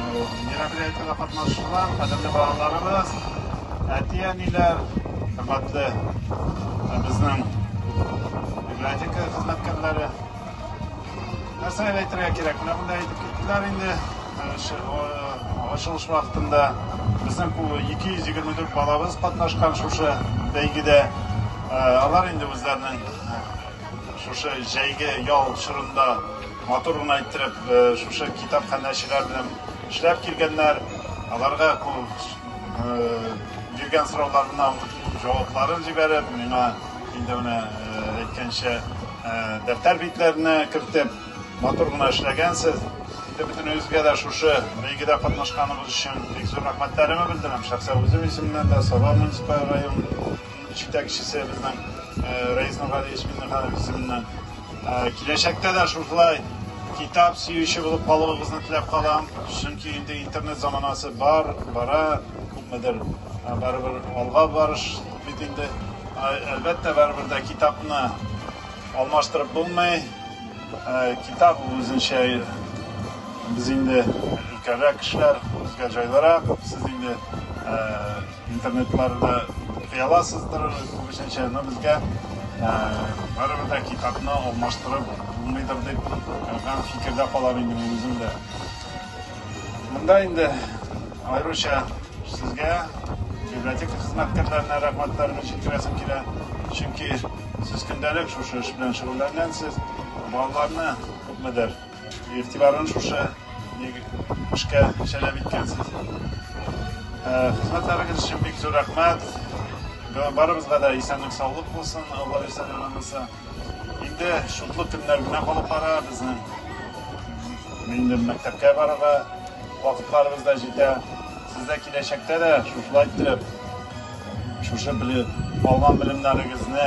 Мероприятиегә катнашучылар, кадерле балаларыбыз, әти-әниләр, хөрмәтле безнең библиотека хезмәткәрләре. Нәрсә әйтергә кирәк? Менә монда әйтеп киттеләр инде. Ачылыш вакытында безнең 224 балабыз катнашкан шушы бәйгедә. Алар инде үзләренең шушы җәйге ял чорында матур гына иттереп шушы китапханәчеләр белән эшләп килгәннәр. Аларга биргән сорауларына җавапларын җибәреп, миңа инде менә әйткәнчә дәфтәр битләренә кертеп, матур гына эшләгәнсез. Инде бөтенегезгә дә шушы бәйгедә катнашканыгыз өчен бик зур рәхмәтләремне белдерәм. Шәхсән үзем исеменнән дә, Саба муниципаль район җитәкчесе безнең Рәис Нургалиевич Миңнеханов исеменнән Киләчәктә дә шушылай китап сөюче булып калуыгызны теләп калам, чөнки инде интернет заманасы бар, бара, күпмедер барыбер алга барыш бит инде. Әлбәттә, барыбер дә китапны алмаштырып булмый. Китап үзенчә без инде өлкәнрәк кешеләр, безгә җайлырак. Сез инде Интернетларда укый аласыздыр күбесенчә, но безгә барыбер дә китапны алмаштырып булмыйдыр дип гам фикердә калам инде мин үзем дә. Монда инде аеруча сезгә, библиотека хезмәткәрләренә рәхмәтләремне җиткерәсем килә, чөнки сез көндәлек шушы эш белән шөгыльләнгәнсез, балаларны күпмедер, Игътибарын шушы эшкә җәлеп иткәнсез. Хезмәтләрегез өчен бик зур рәхмәт. Барыбызга да исәнлек-саулык булсын, Алла бирсә дә монысы. Инде шутлык көннәр генә калып бара, безнең инде мәктәпкә барырга вакытларыбыз да җитә. Сез дә киләчәктә дә шушылай иттереп, шушы алган белемнәрегезне,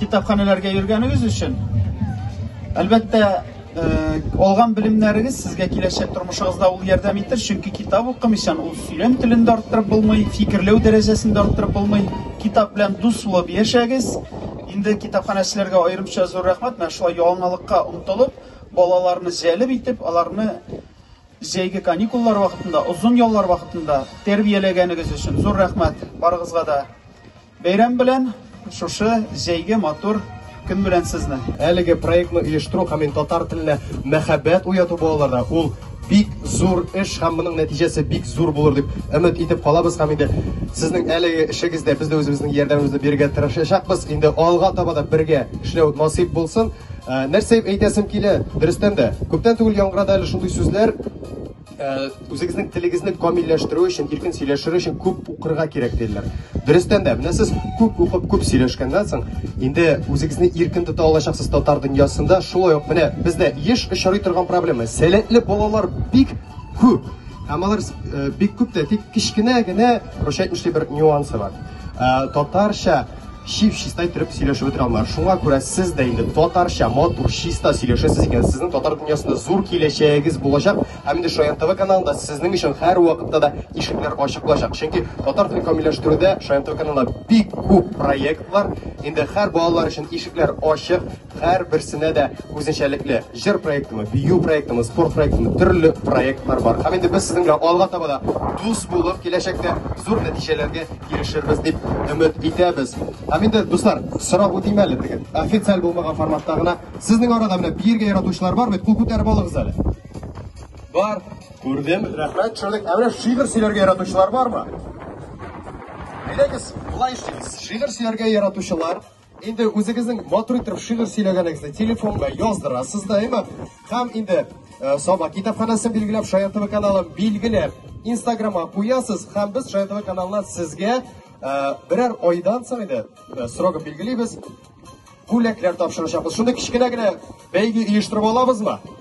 Китапханәләргә йөргәнегез өчен, әлбәттә, алган белемнәрегез сезгә киләчәк тормышыгызда ул ярдәм итер, чөнки китап укымыйчан ул сөйләм телен дә арттырып булмый, фикерләү дәрәҗәсен дә арттырып булмый. Китап белән дус булып яшәгез. Инде китапханәчеләргә аерымча зур рәхмәт, менә шулай яңалыкка омтылып, балаларны җәлеп итеп, аларны җәйге каникуллар вакытында, озын яллар вакытында тәрбияләгәнегез өчен зур рәхмәт барыгызга да. Бәйрәм белән, шушы җәйге матур көн белән сезне! Әлеге проектны оештыру һәм ин татар теленә мәхәббәт уяту балаларда ул бик зур эш һәм моның нәтиҗәсе бик зур булыр дип өмет итеп калабыз һәм инде сезнең әлеге эшегездә без дә үзебезнең ярдәмебезне бирергә тырышачакбыз. Инде алга таба да бергә эшләү насыйп булсын. Нәрсә әйтәсем килә, дөрестән дә, күптән түгел яңгырады әле шундый сүзләр, Үзегезнең телегезне камилләштерү өчен, иркен сөйләшер өчен күп укырга кирәк диләр. Дөрестән дә, менә сез күп укып, күп сөйләшкәннән соң, инде үзегезне иркен тота алачаксыз татар дөньясында. Шулай ук менә бездә еш очрый торган проблема, сәләтле балалар бик күп. Һәм алар бик күп тә, тик кечкенә генә, прощать мешли, бер нюансы бар. Татарча чип-чиста иттереп сөйләшеп бетерә алмыйлар. Шуңа күрә сез дә инде татарча, матур, чиста сөйләшәсез икән, сезнең татар дөньясында зур киләчәгегез булачак, һәм инде Шаян ТВ каналында сезнең өчен һәрвакытта да ишекләр ачык булачак. Чөнки татар телен камилләштерүдә Шаян ТВ каналында бик күп проектлар, инде һәр балалар өчен ишекләр ачык. Һәр берсенә дә үзенчәлекле җыр проектымы, бию проектымы, спорт проектымы, төрле проектлар бар. Һәм инде без сезнең белән алга таба да дус булып, киләчәктә зур нәтиҗәләргә ирешербез дип өмет итәбез. Һәм инде, дуслар, сорап үтим әле, теге официаль булмаган форматта гына. Сезнең арада менә биергә яратучылар бар бит, кул күтәреп алыгыз әле. Бар, күрдем, рәхмәт, төшердек. Ә менә шигырь сөйләргә яратучылар бармы? Әйдәгез, болай эшлибез. Шигырь сөйләргә яратучылар, Инде үзегезнең матур итеп шигырь сөйләгәнегезне телефонга яздырасыз да, әйме? Һәм инде э, Саба китапханәсен билгеләп, Шаян ТВ каналын билгеләп, Инстаграмга куясыз һәм без Шаян ТВ каналына сезгә э, берәр айдан соң инде э, срогын билгелибез, бүләкләр тапшырачакбыз. Шундый кечкенә генә бәйге оештырып алабызмы?